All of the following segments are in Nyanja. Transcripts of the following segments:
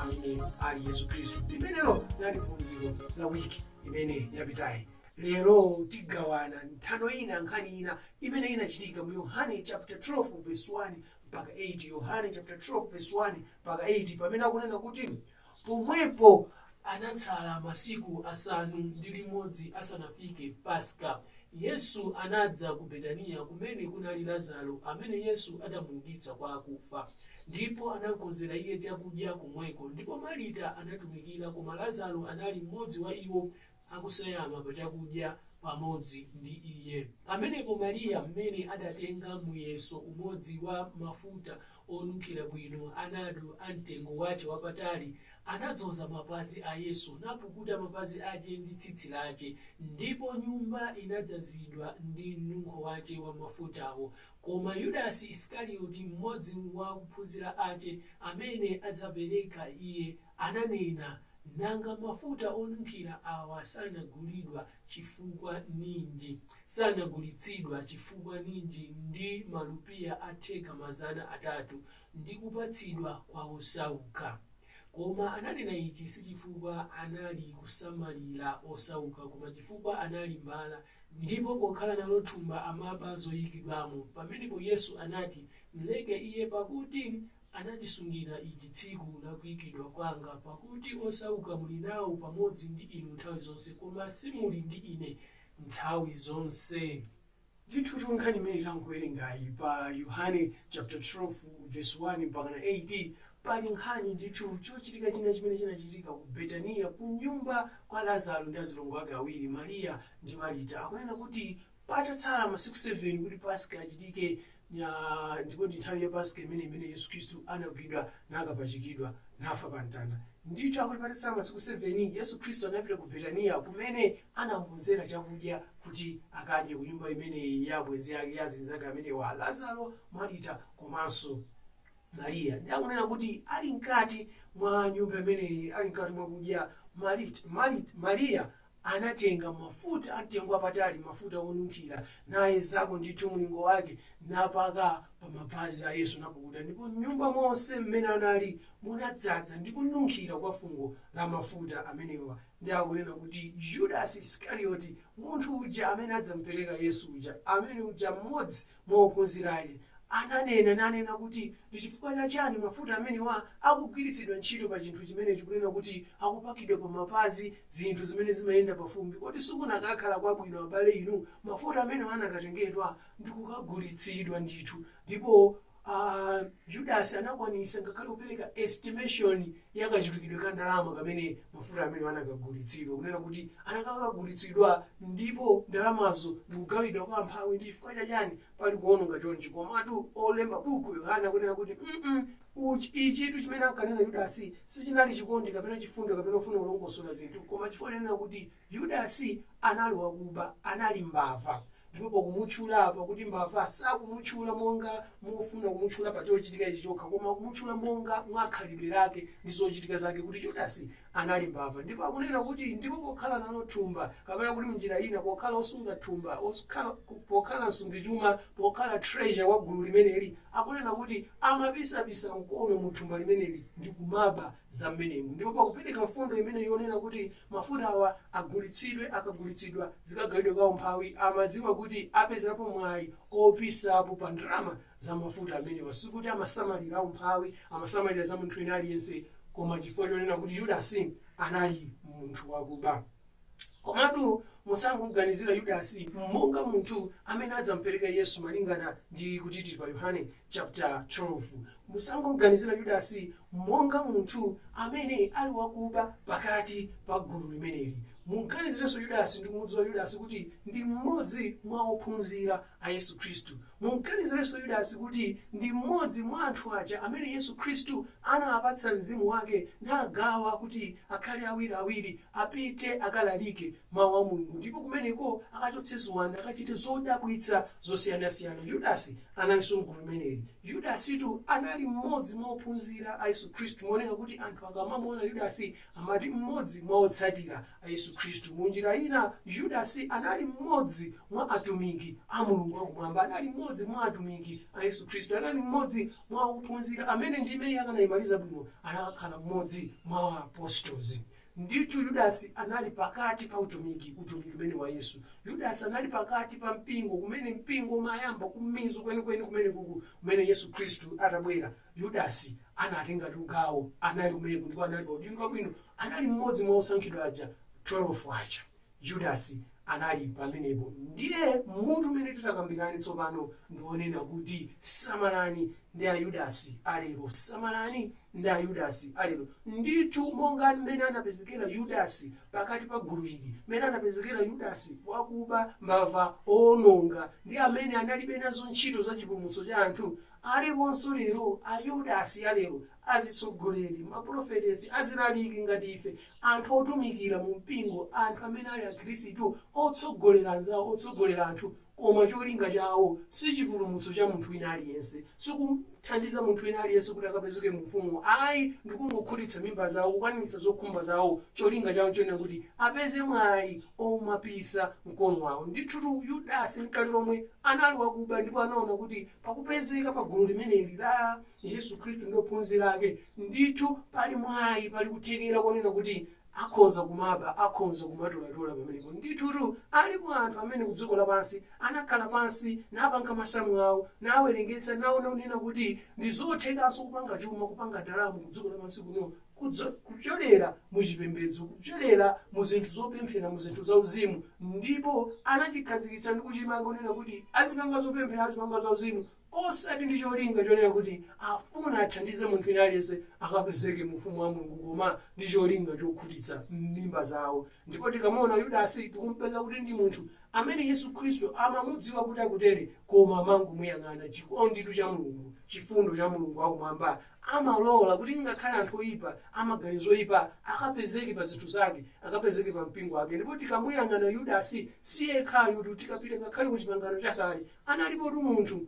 amene ali yesu khristu limenelo linali phunziro la wiki imene yapitayi lero tigawana nthano ina nkhani ina imene inachitika mu yohane chapter 12 verse 1 mpaka 8 yohane chapter 12 verse 1 mpaka 8 pamene akunena kuti pomwepo anatsala masiku asanu ndi limodzi asanafike paska Yesu anadza ku Betaniya kumene kunali Lazaro amene Yesu adamuukitsa kwa akufa, ndipo anamkonzera Iye chakudya komweko. Ndipo Marita anatumikira, koma Lazaro anali mmodzi wa iwo akuseyama pa chakudya pamodzi ndi Iye. Pamenepo Mariya m'mene adatenga muyeso umodzi wa mafuta onunkhira bwino, anadu a mtengo wache wapatali, anadzoza mapazi a Yesu, napukuta mapazi ache ndi tsitsi lache, ndipo nyumba inadzazidwa ndi mnunkho wache wa mafutawo. Koma Yudasi Isikarioti, mmodzi wa akuphunzira ache, amene adzapereka Iye, ananena, Nanga mafuta onunkhira awa sanagulidwa chifukwa ninji, sanagulitsidwa chifukwa ninji ndi malupiya atheka mazana atatu, ndi kupatsidwa kwa osauka? Koma ananena ichi si chifukwa anali kusamalira osauka, koma chifukwa anali mbala, ndipo pokhala nalo thumba amaba zoyikidwamo. Pamenepo Yesu anati, Mleke iye, pakuti Anachisungira ichi tsiku la kuikidwa kwanga, pakuti osauka muli nawo pamodzi ndi inu nthawi zonse, koma simuli ndi ine nthawi zonse. Ndithutu nkhani imene tangowerengayi pa Yohane chapter 12 verse 1 mpakana 8, pali nkhani ndithu, chochitika china chimene chinachitika ku Betaniya, kunyumba kwa Lazaro ndi azilongo ake awiri, Mariya ndi Marita. Akunena kuti Patatsala masiku 7 kuti Paska achitike, nya, ndipo ndi nthawi ya Paska imene imene Yesu Khristu anagwidwa nakapachikidwa nafa pa mtanda. Ndithu akuti patatsala masiku 7 Yesu Khristu anapita ku Betaniya kumene anamukonzera chakudya kuti akadye ku nyumba imeneyi ya abwenzi ake ya azinzake amenewa Lazaro, Marita komanso Mariya. Ndi akunena kuti ali mkati mwa nyumba imeneyi, ali mkati mwa kudya, Marit, Marit, Mariya Anatenga mafuta amtengo wapatali, mafuta wonunkhira, nayezako ndithu mlingo wake, napaka pa mapazi a Yesu, napukuta. Ndipo m'nyumba monse m'mene anali munadzadza ndi kununkhira kwa fungo la mafuta amenewa. Ndi akunena kuti Judas Isikarioti, munthu uja amene adzamupereka Yesu uja, amene uja m'modzi mwa ophunzira ake ananena nanena kuti ndi chifukwa cha chani mafuta amenewa akugwiritsidwa ntchito pa chinthu chimenechi kunena kuti akupakidwa pa mapazi zinthu zimene zimayenda pa fumbi kodi sikunakakhala kwabwino abale inu mafuta amenewa anakatengedwa ndi kukagulitsidwa ndithu ndipo ah Judas anakwanitsa ngakhale kupereka estimation ya kachulukidwe ka ndalama kamene mafuta amenewa anakagulitsidwa, kunena kuti anakakagulitsidwa ndipo ndalamazo ndikugawidwa kwa amphawi. Ndi chifukwa cha chani pali kuononga chonchi? Komatu olemba buku la Yohane akunena kuti mm uch- ichitu chimene ankanena Yudasi sichinali chikondi kapena chifundo kapena kufuna kulongosola zinthu, koma chifukwa chonena kuti Yudasi anali wakuba, anali mbava. Ndipo pakumutchula apa kuti mbava, sakumutchula monga mofuna kumutchula pa chochitika ichi chokha, koma akumutchula monga mwa khalidwe lake ndi zochitika zake kuti Yudasi anali mbava. Ndipo akunena kuti, ndipo pokhala nalo thumba, kapena kuti mnjira ina, pokhala wosunga thumba, wokhala, pokhala msungichuma, pokhala treasurer wa gulu limeneli, akunena kuti amapisa-pisa mkono mu thumba limeneli ndi kumaba za mmenemu ndipo pakupereka mfundo imene yonena kuti mafutawa agulitsidwe akagulitsidwa zikagawidwe kwa amphawi amadziwa kuti apezerapo mwayi opisapo pa ndalama za mafuta amenewa sikuti amasamalira amphawi amasamalira za munthu wina aliyense koma chifukwa chonena kuti yudasi anali munthu wakuba komatu musangomuganizira yudasi monga munthu amene adzampereka yesu malingana ndi kuti tili pa yohane chaputa 12, musangomuganizira Yudasi monga munthu amene ali wakuba pakati pa gulu limeneli. Mum'ganizirenso Yudasi ndi kumudziwa Yudasi kuti ndi mmodzi mwa ophunzira a Yesu Khristu. Mum'ganizirenso Yudasi kuti ndi mmodzi mwa anthu aja amene Yesu Khristu anawapatsa mzimu wake nagawa kuti akhale awiri-awiri, apite akalalike Mawu a Mulungu, ndipo kumeneko akachotse ziwanda, akachite zodabwitsa zosiyana-siyana. Yudasi Analinso m'gulu limeneli. Yudasitu anali mmodzi mwa ophunzira a Yesu Khristu monena kuti anthu akamamuona Yudasi amati mmodzi mwa otsatira a Yesu Khristu. Mu njira ina, Yudasi anali mmodzi mwa atumiki a Mulungu wakumwamba. Anali mmodzi mwa atumiki a Yesu Khristu. Anali mmodzi mwa ophunzira amene ndime iyi akanaimaliza bwino anakakhala mmodzi mwa ma apostles. Ndithu Yudasi anali pakati pa utumiki, utumiki umene wa Yesu. Yudasi anali pakati pa mpingo, kumene mpingo umayamba kumizu kwenikweni kumene kuku kumene Yesu Khristu atabwera. Yudasi anatengatu gawo, anali kumeneko ndipo anali pa udindo wabwino, anali mmodzi mwa osankhidwa aja 12 aja. Yudasi anali pamenepo. Ndiye mutu umene titakambirane tsopano ndi wonena kuti Samalani ndi Ayudasi a Lero. Samalani ndi Ayudasi a Lero. Ndithu, monga mmene anapezekera Yudasi pakati pa gulu ili, mmene anapezekera Yudasi wakuba, mbava, woononga, ndi amene analibe nazo ntchito za chipulumutso cha anthu, aliponso lero Ayudasi a lero, azitsogoleri, mapulofeti, azialaliki ngati ife, Anthu otumikira mu mpingo, anthu amene ali akhirisitu, otsogolera anzawo, otsogolera anthu, koma cholinga chawo si chipulumutso cha munthu wina aliyense, si kumthandiza munthu wina aliyense kuti akapezeke mu Ufumu, ayi, ndi kungokhutitsa mimba zawo, kukwaniritsa zokhumba zawo, cholinga chawo nchonena kuti apeze mwayi omapisa mkono wawo. Ndithutu Yudasi nkale lomwe anali wakuba ndipo anaona kuti pakupezeka pa gulu limeneli la. Yesu Khristu ndi ophunzira ake, ndithu pali mwayi, pali kuthekera konena kuti akhonza kumaba, akhonza kumatolatola pamenepo. Ndithutu alipo anthu amene ku dziko lapansi anakhala pansi napanga masamu awo, nawerengetsa, naona kunena kuti ndi zothekanso kupanga chuma, kupanga ndalama ku dziko lapansi kuno kupyolera mu chipembedzo, kupyolera mu zinthu zopemphera, mu zinthu za uzimu. Ndipo anachikhazikitsa ndi kuchimanga kunena kuti azipanga zopemphera, azipanga za uzimu Osati ndi cholinga chonena kuti afuna athandize munthu wina aliyense akapezeke mu Ufumu wa Mulungu koma ndi cholinga chokhutitsa mimba zawo. Ndipo tikamaona Yudasi tikumpeza kuti ndi munthu amene Yesu Khristu amamudziwa kuti akutere koma amangomuyang'ana. Chikonditu cha Mulungu, chifundo cha Mulungu wa kumwamba amalola kuti ngakhale anthu oyipa, a maganizo oyipa akapezeke pa zinthu zake, akapezeke pa mpingo wake. Ndipo tikamuyang'ana Yudasi si yekhayutu, tikapita ngakhale ku Chipangano Chakale Analipotu munthu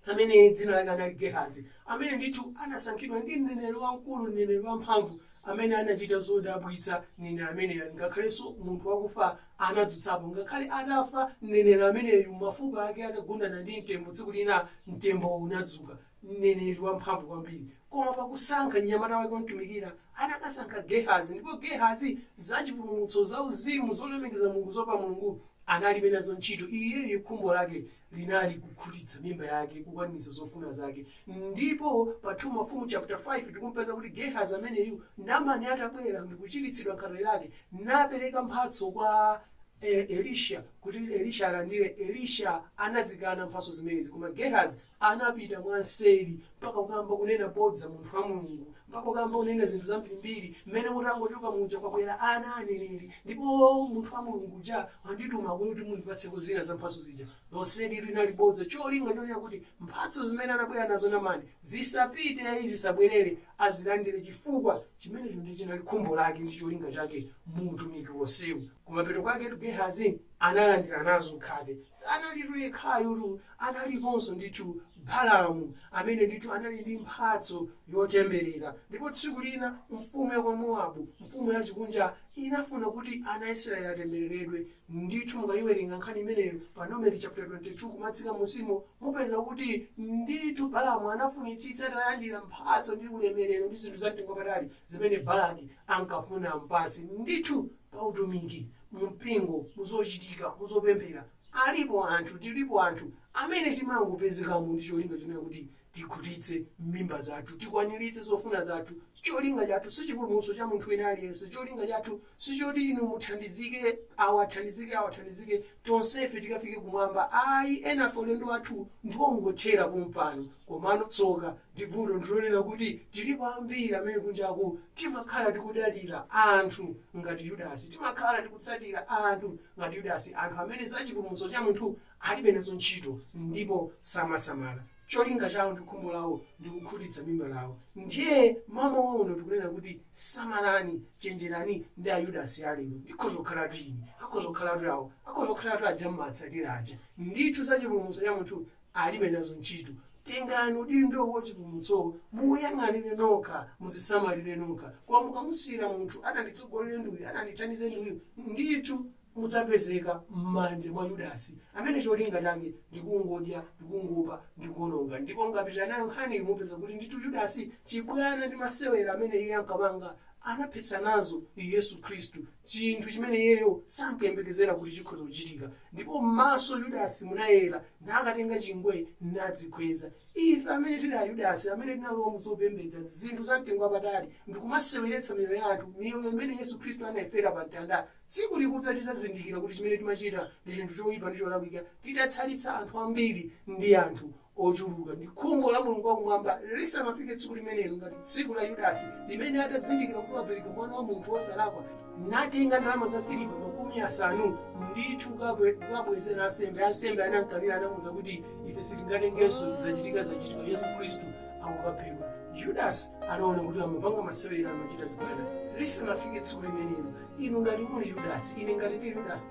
amene dzina lake anali Gehazi, amene ndithu anasankhidwa ndi mneneri wamkulu, mneneri wamphamvu amene anachita zodabwitsa. Mneneri ameneyu, ngakhalenso munthu wakufa anadzutsapo, ngakhale atafa mneneri ameneyu, mafupa ake atagundana ndi mtembo, tsiku lina mtembowo unadzuka. mneneri wamphamvu kwambiri. Koma pa kusankha mnyamata wake womtumikira, anakasankha Gehazi. Ndipo Gehazi za chipulumutso, za uzimu, zolemekeza Mulungu, zoopa Mulungu, analibe nazo ntchito. Iyeyu khumbo lake linali kukhutitsa mimba yake, kukwaniritsa zofuna zake. Ndipo pa 2 Mafumu chapter 5 tikumpeza kuti Gehazi ameneyu, Namani atabwera ndikuchiritsidwa khate lake, napereka mphatso kwa eh, Elisha kuti Elisha alandire. Elisha anazikana mphatso zimenezi, koma Gehazi Anapita mwamseri mpaka kukayamba kunena bodza munthu wa Mulungu, mpaka kukayamba kunena zinthu zambirimbiri, m'mene mutangochoka muja kwabwera ana a aneneri, ndipo munthu wa Mulungu uja wandituma kuno kuti mundipatseko zina za mphatso zija. Lonselitu linali bodza, cholinga chonena kuti mphatso zimene anabwera nazo Namani zisapite ai, zisabwerere, azilandire chifukwa chimenecho ndiye chinali khumbo lake ndi cholinga chake mu utumiki wonsewu. Kumapeto kwaketu Gehazi analandira nazo khate. Sanalitu yekhayutu Analiponso ndithu Balamu, amene ndithu anali ndi mphatso yotemberera. Ndipo tsiku lina mfumu ya kwa Moabu, mfumu yachikunja, inafuna kuti ana a Israeli atembereredwe. Ndithu mukayiwerenga nkhani imeneyo pa Numeri chapter 22 kumatsika mmusimo, mupeza kuti ndithu Balamu anafunitsitsa atalandira mphatso ndi ulemerero ndi zinthu za mtengo wapatali zimene Balaki ankafuna ampatse. Ndithu pa utumiki, mu mpingo, mu zochitika, mu zopemphera. Alipo anthu, tilipo anthu amene timangopezekamo ndi cholinga chonena kuti tikhutitse mimba zathu, tikwaniritse zofuna zathu. Cholinga chathu si chipulumutso cha munthu wina aliyense. Cholinga chathu si choti inu muthandizike, awa athandizike, awa athandizike, tonsefe tikafike kumwamba. Ayi, enafe ulendo wathu ndi wongothera pompano. Komano tsoka ndi vuto ndi lonena kuti tilipo ambiri amene kunjaku timakhala tikudalira anthu ngati Yudasi. Timakhala tikutsatira anthu. ngati Yudasi anthu amene za chipulumutso cha munthu alibe nazo ntchito ndipo samasamala. Cholinga chawo ndi khumbo lawo ndi kukhutitsa mimba lawo. Ndiye mmawa uno tikunena kuti samalani, chenjerani ndi a Yudasi a lero. Ndikhoza kukhalatu ine, akhoza kukhalatu awo, akhoza kukhalatu aja mmawatsatira aja. Ndithu za chipulumutso cha munthu alibe nazo ntchito. Tengani udindo wa chipulumutso, muziyang'anire nokha, muzisamalire nokha. Koma mukamasiyira munthu adzanditsogolere ndi uyu, adzandithandize ndi uyu, ndithu mudzapezeka m'manja mwa Yudasi, amene cholinga chake ndi kungodya ndi kungoba ndi kuwononga. Ndipo mukapitira nayo nkhaniyi, mupeza kuti ndithu Yudasi, chibwana ndi masewera amene iye ankapanga anaphetsa nazo Yesu Khristu, chinthu chimene iyeyo sankayembekezera kuti chikhoza kuchitika. Ndipo m'maso Yudasi munayera, nakatenga chingwe nadzikhweza. Ife amene tili a Yudasi, amene tinalowa mu zopembedza zinthu za mtengo wapatali ndikumaseweretsa miyoyo ya anthu, miyoyo imene Yesu Khristu anayifera pa mtanda, tsiku likudza tidzazindikira kuti chimene timachita ndi chinthu choyipa ndi cholakwika, titatayitsa anthu ambiri ndi anthu ochuluka ndi khumbo la mulungu wakumwamba lisanafike tsiku limenelo ngati tsiku la yudasi limene atazindikira kuti wapereka mwana wa munthu wosalakwa natenga ndalama za siliva makumi asanu ndithu kukabwezera ansembe ansembe anamkanira anamuza kuti ife sitingatengenso zachitika zachitika yesu khristu akukaphedwa yudasi anaona kuti amapanga masewera amachita zibwana lisanafike tsiku limenelo inu ngati muli yudasi ine ngati ndi yudasi